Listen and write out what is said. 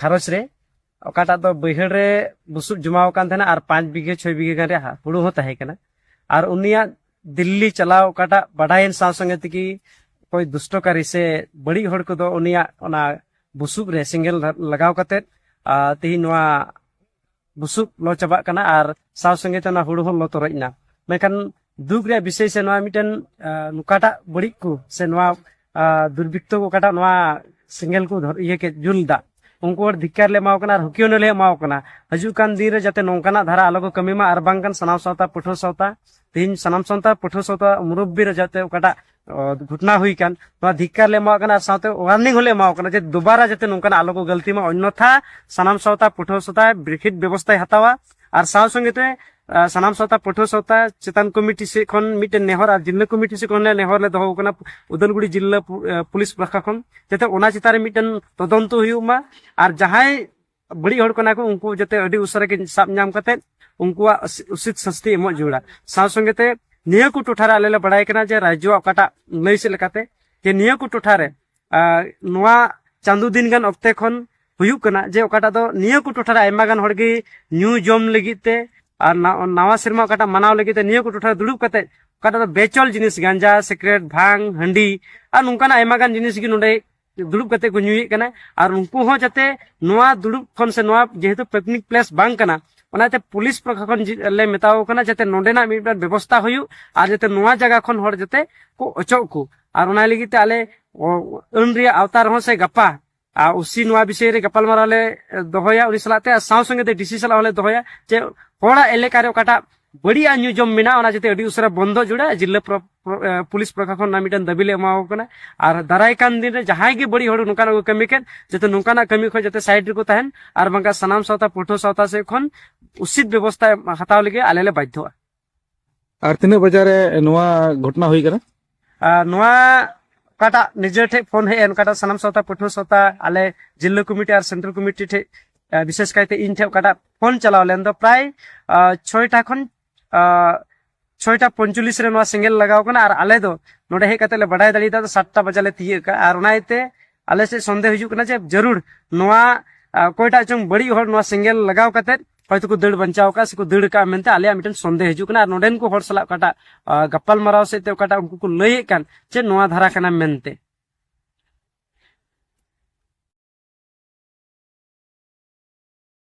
ᱜᱷᱟᱨᱚᱸᱡᱽ ᱨᱮ ᱚᱠᱟᱴᱟᱜ ᱫᱚ ᱵᱟᱹᱭᱦᱟᱹᱲ ᱨᱮ ᱵᱩᱥᱩᱵ ᱡᱚᱢᱟᱣ ᱟᱠᱟᱱ ᱛᱟᱦᱮᱱᱟ ᱟᱨ ᱯᱟᱸᱪ ᱵᱤᱜᱷᱟᱹ ᱪᱷᱚᱭ ᱵᱤᱜᱷᱟᱹ ᱜᱟᱱ ᱨᱮᱭᱟᱜ ᱦᱩᱲᱩ ᱦᱚᱸ ᱛᱟᱦᱮᱸ ᱠᱟᱱᱟ ᱟᱨ ᱩᱱᱤᱭᱟᱜ ᱫᱤᱞᱞᱤ ᱪᱟᱞᱟᱣ ᱚᱠᱟᱴᱟᱜ ᱵᱟᱰᱟᱭᱮᱱ ᱥᱟᱶ ᱥᱚᱸᱜᱮ ᱛᱮᱜᱮ ᱚᱠᱚᱭ ᱫᱩᱥᱴᱚᱠᱟᱨᱤ ᱥᱮ ᱵᱟᱹᱲᱤᱡ ᱦᱚᱲ ᱠᱚᱫᱚ ᱩᱱᱤᱭᱟᱜ ᱚᱱᱟ ᱵᱩᱥᱩᱵ ᱨᱮ ᱥᱮᱸᱜᱮᱞ ᱞᱟᱜᱟᱣ ᱠᱟᱛᱮᱫ ᱛᱮᱦᱤᱧ ᱱᱚᱣᱟ ᱵᱩᱥᱩᱵ ᱞᱚ ᱪᱟᱵᱟᱜ ᱠᱟᱱᱟ ᱟᱨ ᱥᱟᱶ ᱥᱚᱸᱜᱮ ᱛᱮ ᱚᱱᱟ ᱦᱩᱲᱩ ᱦᱚᱸ ᱞᱚ ᱛᱚᱨᱚᱡ ᱮᱱᱟ ᱢᱮᱱᱠᱷᱟᱱ ᱫᱩᱠ ᱨᱮᱭᱟᱜ ᱵᱤᱥᱚᱭ ᱥᱮ ᱱᱚᱣᱟ ᱢᱤᱫᱴᱮᱱ ᱚᱠᱟᱴᱟᱜ ᱵᱟᱹᱲᱤᱡ ᱠᱚ ᱥᱮ ᱱᱚᱣᱟ ᱫᱩᱨᱵᱤᱛᱛᱚ ᱚᱠᱟᱴᱟᱜ ᱱᱚᱣᱟ ᱥᱮᱸᱜᱮᱞ ᱠᱚ ᱤᱭᱟᱹ ᱠᱮᱫ ᱡᱩᱞ ᱫᱟ ᱩᱱᱠᱩ ᱦᱚᱲ ᱫᱷᱤᱠᱟᱨ ᱞᱮ ᱮᱢᱟᱣ ᱠᱟᱱᱟ ᱟᱨ ᱦᱩᱠᱤᱭᱚᱱ ᱞᱮ ᱮᱢᱟᱣ ᱠᱟᱱᱟ ᱦᱤᱡᱩᱜ ᱠᱟᱱ ᱫᱤᱱ ᱨᱮ ᱡᱟᱛᱮ ᱱᱚᱝᱠᱟᱱᱟᱜ ᱫᱷᱟᱨᱟ ᱟᱞᱚ ᱠᱚ ᱠᱟᱹᱢᱤ ᱢᱟ ᱟᱨ ᱵᱟᱝᱠᱷᱟᱱ ᱥᱟᱱᱟᱢ ᱥᱟᱶᱛᱟ ᱯᱟᱹᱴᱷᱩᱣᱟᱹ ᱥᱟᱶᱛᱟ ᱛᱮᱦᱮᱧ ᱥᱟᱱᱟᱢ ᱥᱟᱶᱛᱟ ᱯᱟᱹᱴᱷᱩᱣᱟᱹ ᱥᱟᱶᱛᱟ ᱢᱩᱨᱚᱵᱵᱤ ᱨᱮ ᱡᱟᱛᱮ ᱚᱠᱟᱴᱟᱜ ᱜᱷᱚᱴᱱᱟ ᱦᱩᱭ ᱠᱟᱱ ᱱᱚᱣᱟ ᱫᱷᱤᱠᱟᱨ ᱞᱮ ᱮᱢᱟᱣᱟᱜ ᱠᱟᱱᱟ ᱟᱨ ᱥᱟᱶᱛᱮ ᱣᱟᱨᱱᱤᱝ ᱦᱚᱸᱞᱮ ᱮᱢᱟᱣᱟᱜ ᱠᱟᱱᱟ ᱡᱮ ᱫᱩᱵᱟᱨᱟ ᱡᱟᱛᱮ ᱱᱚᱝᱠᱟᱱᱟᱜ ᱟᱞᱚ ᱠᱚ ᱜᱟᱹᱞᱛᱤ ᱢᱟ ᱚᱱᱱᱚᱛᱷᱟ ᱥᱟᱱᱟᱢ ᱥᱟᱶᱛᱟ ᱯᱟᱹᱴᱷᱩᱣᱟᱹ ᱥᱟᱶᱛᱟ ᱵᱨᱤᱠᱷᱤᱛ ᱵᱮᱵᱚᱥᱛᱷᱟᱭ ᱦᱟᱛᱟᱣᱟ ᱟᱨ ᱥᱟᱶ ᱥᱚᱸᱜᱮ ᱛᱮ ᱥᱟᱱᱟᱢ ᱥᱟᱶᱛᱟ ᱯᱟᱹᱴᱷᱩᱣᱟᱹ ᱥᱟᱶᱛᱟ ᱪᱮᱛᱟᱱ ᱠᱚᱢᱤᱴᱤ ᱥᱮᱫ ᱠᱷᱚᱱ ᱢᱤᱫᱴᱮᱱ ᱱᱮᱦᱚᱨ ᱟᱨ ᱡᱤᱞᱞᱟᱹ ᱠᱚᱢᱤᱴᱤ ᱥᱮᱫ ᱠᱷᱚᱱ ᱱᱮᱦᱚᱨ ᱞᱮ ᱫᱚᱦᱚ ᱠᱟᱱᱟ ᱩᱫᱟᱞᱜᱩᱲᱤ ᱡᱤᱞᱞᱟᱹ ᱯᱩᱞᱤᱥ ᱯᱟᱦᱴᱟ ᱠᱷᱚᱱ ᱡᱟᱛᱮ ᱚᱱᱟ ᱪᱮᱛᱟᱱ ᱨᱮ ᱢᱤᱫᱴᱮᱱ ᱛᱚᱫᱚᱱᱛᱚ ᱦᱩᱭᱩᱜ ᱢᱟ ᱟᱨ ᱡᱟᱦᱟᱸᱭ ᱵᱟᱹᱲᱤᱡ ᱦᱚᱲ ᱠᱟᱱᱟ ᱠᱚ ᱩᱱᱠᱩ ᱡᱟᱛᱮ ᱟᱹᱰᱤ ᱩᱥᱟᱹᱨᱟ ᱜᱮ ᱥᱟᱵ ᱧᱟᱢ ᱠᱟᱛᱮ ᱩᱱᱠᱩᱣᱟᱜ ᱩᱥᱤᱛ ᱥᱟᱥᱛᱤ ᱮᱢᱚᱜ ᱡᱟᱹᱨᱩᱲᱟ ᱥᱟᱶ ᱥᱚᱸᱜᱮ ᱛᱮ ᱱᱤᱭᱟᱹ ᱠᱚ ᱴᱚᱴᱷᱟ ᱨᱮ ᱟᱞᱮ ᱞᱮ ᱵᱟᱲᱟᱭ ᱠᱟᱱᱟ ᱡᱮ ᱨᱟᱡᱽᱡᱚ ᱚᱠᱟᱴᱟᱜ ᱞᱟᱹᱭ ᱥᱮᱫ ᱞᱮᱠᱟᱛᱮ ᱡᱮ ᱱᱤᱭᱟᱹ ᱠᱚ ᱴᱚᱴᱷᱟ ᱨᱮ ᱱᱚᱣᱟ ᱪᱟᱸᱫᱳ ᱫᱤᱱ ᱜᱟᱱ ᱚᱠᱛᱮ ᱠᱷᱚᱱ ᱦᱩᱭᱩᱜ ᱠᱟᱱᱟ ᱡᱮ ᱚᱠᱟᱴᱟᱜ ᱫᱚ ᱱᱤᱭᱟᱹ ᱠᱚ ᱴᱚᱴᱷᱟ ᱨᱮ ᱟᱭᱢᱟ ᱜᱟᱱ ᱦᱚᱲ ᱜᱮ ᱧᱩ ᱡᱚᱢ ᱞᱟᱹᱜᱤᱫ ᱛᱮ ᱟᱨ ᱱᱟᱣᱟ ᱥᱮᱨᱢᱟ ᱚᱠᱟᱴᱟᱜ ᱢᱟᱱᱟᱣ ᱞᱟᱹᱜᱤᱫ ᱛᱮ ᱱᱤᱭᱟᱹ ᱠᱚ ᱴᱚᱴᱷᱟ ᱨᱮ ᱫᱩᱲᱩᱵ ᱠᱟᱛᱮ ᱚᱠᱟᱴᱟᱜ ᱫᱚ ᱵᱮᱪᱚᱞ ᱡᱤᱱᱤᱥ ᱜᱟᱸᱡᱟ ᱥᱤᱠᱨᱮᱴ ᱵᱷᱟᱝ ᱦᱟᱺᱰᱤ ᱟᱨ ᱱᱚᱝᱠᱟᱱᱟᱜ ᱟᱭᱢᱟ ᱜᱟᱱ ᱡᱤᱱᱤᱥ ᱜᱮ ᱱᱚᱰᱮ ᱫᱩᱲᱩᱵ ᱠᱟᱛᱮ ᱠᱚ ᱧᱩᱭᱮᱫ ᱠᱟᱱᱟ ᱟᱨ ᱩᱱᱠᱩ ᱦᱚᱸ ᱡᱟᱛᱮ ᱱᱚᱣᱟ ᱫᱩᱲᱩᱵ ᱠᱷᱚᱱ ᱥᱮ ᱱᱚᱣᱟ ᱡᱮᱦᱮᱛᱩ ᱯᱤᱠᱱᱤᱠ ᱯᱞᱮᱥ ᱵᱟᱝ ᱠᱟᱱᱟ ᱚᱱᱟᱛᱮ ᱯᱩᱞᱤᱥ ᱯᱟᱦᱴᱟ ᱠᱷᱚᱱ ᱞᱮ ᱢᱮᱛᱟᱣ ᱠᱟᱱᱟ ᱡᱟᱛᱮ ᱱᱚᱰᱮᱱᱟᱜ ᱢᱤᱫᱴᱟᱝ ᱵᱮᱵᱚᱥᱛᱟ ᱦᱩᱭᱩᱜ ᱟᱨ ᱡᱟᱛᱮ ᱱᱚᱣᱟ ᱡᱟᱭᱜᱟ ᱠᱷᱚᱱ ᱦᱚᱲ ᱡᱟᱛᱮ ᱠᱚ ᱚᱪᱚᱜ ᱠᱚ ᱟᱨ ᱚᱱᱟ ᱞᱟᱹᱜᱤᱫ ᱛᱮ ᱟᱞᱮ ᱟᱹᱱ ᱨᱮᱭᱟᱜ ᱟᱣᱛᱟ ᱨᱮᱦᱚᱸ ᱥᱮ ᱜᱟᱯᱟ ᱟᱨ ᱩᱥᱤ ᱱᱚᱣᱟ ᱵᱤᱥᱚᱭ ᱨᱮ ᱜᱟᱯᱟᱞᱢᱟᱨᱟᱣ ᱞᱮ ᱫᱚᱦᱚᱭᱟ ᱩᱱᱤ ᱥᱟᱞᱟᱜ ᱛᱮ ᱟᱨ ᱥᱟᱶ ᱥᱚᱸᱜᱮ ᱛᱮ ᱰᱤᱥᱤ ᱥᱟᱞᱟᱜ ᱦᱚᱸᱞᱮ ᱫᱚᱦᱚᱭᱟ ᱡᱮ ᱦᱚᱲᱟᱜ ᱮᱞᱮᱠᱟ ᱨᱮ ᱚᱠᱟᱴᱟᱜ ᱵᱟᱹᱲᱤᱡ ᱧᱩ ᱡᱚᱢ ᱢᱮᱱᱟᱜᱼᱟ ᱚᱱᱟ ᱡᱟᱛᱮ ᱟᱹᱰᱤ ᱩᱥᱟᱹᱨᱟ ᱵᱚᱱᱫᱚ ᱡᱩᱲᱟ ᱡᱤᱞᱞᱟᱹ ᱯᱩᱞᱤᱥ ᱯᱨᱚᱥᱟᱥᱚᱱ ᱨᱮᱱᱟᱜ ᱢᱤᱫᱴᱟᱝ ᱫᱟᱹᱵᱤ ᱞᱮ ᱮᱢᱟᱣ ᱠᱟᱱᱟ ᱟᱨ ᱫᱟᱨᱟᱭ ᱠᱟᱱ ᱫᱤᱱ ᱨᱮ ᱡᱟᱦᱟᱸᱭ ᱜᱮ ᱵᱟᱹᱲᱤᱡ ᱦᱚᱲ ᱱᱚᱝᱠᱟᱱᱟᱜ ᱠᱚ ᱠᱟᱹᱢᱤ ᱠᱮᱫ ᱡᱟᱛᱮ ᱱᱚᱝᱠᱟᱱᱟᱜ ᱠᱟᱹᱢᱤ ᱠᱷᱚᱱ ᱡᱟᱛᱮ ᱥᱟᱭᱤᱰ ᱨᱮᱠᱚ ᱛᱟᱦᱮᱱ ᱟᱨ ᱵᱟᱝᱠᱷᱟᱱ ᱥᱟᱱᱟᱢ ᱥᱟᱶᱛᱟ ᱯᱟᱹᱴᱷᱩᱣᱟᱹ ᱥᱟᱶᱛᱟ ᱥᱮᱫ ᱠᱷᱚᱱ ᱩᱪᱤᱛ ᱵᱮᱵᱚᱥᱛᱷᱟ ᱦᱟᱛᱟᱣ ᱞᱟᱹᱜᱤᱫ ᱟᱞᱮ ᱞᱮ ᱵᱟᱫᱽᱫᱷᱚᱜᱼᱟ ᱟᱨ ᱛᱤᱱᱟᱹᱜ ᱵᱟᱡᱟᱨ ᱨᱮ ᱱᱚᱣᱟ ᱜᱷᱚᱴᱚᱱᱟ ᱦᱩᱭ ᱠᱟᱱᱟ ᱱᱚᱣᱟ ᱚᱠᱟᱴᱟᱜ ᱱᱤᱡᱮ ᱴᱷᱮᱡ ᱯᱷᱳᱱ ᱦᱮᱡ ᱮᱱ ᱚᱠᱟᱴᱟᱜ ᱥᱟᱱᱟᱢ ᱥᱟᱶᱛᱟ ᱯᱟᱹᱴᱷᱩᱣᱟᱹ ᱥᱟᱶᱛᱟ ᱟᱞᱮ ᱡᱤᱞᱞᱟᱹ ᱠᱚᱢᱤᱴᱤ ᱟᱨ ᱥᱮᱱᱴᱨᱟᱞ ᱠᱚᱢᱤᱴᱤ ᱴᱷᱮᱡ ᱵᱤᱥᱮᱥ ᱠᱟᱭᱛᱮ ᱤᱧ ᱴᱷᱮᱡ ᱚᱠᱟᱴᱟᱜ ᱯᱷᱳᱱ ᱪᱟᱞᱟᱣ ᱞᱮᱱ ᱫᱚ ᱯᱨᱟᱭ ᱪᱷᱚᱭᱴᱟ ᱠᱷᱚᱱ ᱪᱷᱚᱭᱴᱟ ᱯᱚᱧᱪᱚᱞᱤᱥ ᱨᱮ ᱱᱚᱣᱟ ᱥᱮᱸᱜᱮᱞ ᱞᱟᱜᱟᱣ ᱠᱟᱱᱟ ᱟᱨ ᱟᱞᱮ ᱫᱚ ᱱᱚᱰᱮ ᱦᱮᱡ ᱠᱟᱛᱮ ᱞᱮ ᱵᱟᱰᱟᱭ ᱫᱟᱲᱮᱭᱟᱫᱟ ᱫᱚ ᱥᱟᱛᱴᱟ ᱵᱟᱡᱟ ᱞᱮ ᱛᱤᱭᱟᱹᱜ ᱠᱟᱜᱼᱟ ᱟᱨ ᱚᱱᱟ ᱤᱭᱟᱹᱛᱮ ᱟᱞᱮ ᱥᱮᱫ ᱥᱚᱱᱫᱮᱦ ᱦᱤᱡᱩᱜ ᱠᱟᱱᱟ ᱡᱮ ᱡᱟᱹᱨᱩᱲ ᱱᱚᱣᱟ ᱚᱠᱚᱭᱴᱟᱜ ᱪᱚᱝ ᱵᱟᱹᱲᱤᱡ ᱦᱚᱲ ᱱᱚᱣᱟ ᱥᱮᱸᱜᱮᱞ ᱞᱟᱜᱟᱣ ᱠᱟᱛᱮ ᱦᱚᱭᱛᱳ ᱠᱚ ᱫᱟᱹᱲ ᱵᱟᱧᱪᱟᱣ ᱟᱠᱟᱫ ᱥᱮᱠᱚ ᱫᱟᱹᱲ ᱟᱠᱟᱫ ᱢᱮᱱᱛᱮ ᱟᱞᱮᱭᱟᱜ ᱢᱤᱫᱴᱮᱱ ᱥᱚᱱᱫᱮᱦ ᱦᱤᱡᱩᱜ ᱠᱟᱱᱟ ᱟᱨ ᱱᱚᱰᱮᱱ ᱠᱚ ᱦᱚᱲ ᱥᱟᱞᱟᱜ ᱚᱠᱟᱴᱟᱜ ᱜᱟᱯᱟᱞ ᱢᱟᱨᱟᱣ ᱥᱮᱫ ᱛᱮ ᱚᱠᱟᱴᱟᱜ ᱩᱱᱠᱩ ᱠᱚ ᱞᱟᱹᱭᱮᱫ ᱠᱟᱱ ᱪᱮᱫ ᱱᱚᱣᱟ ᱫᱷᱟᱨᱟ ᱠᱟᱱᱟ ᱢᱮᱱᱛᱮ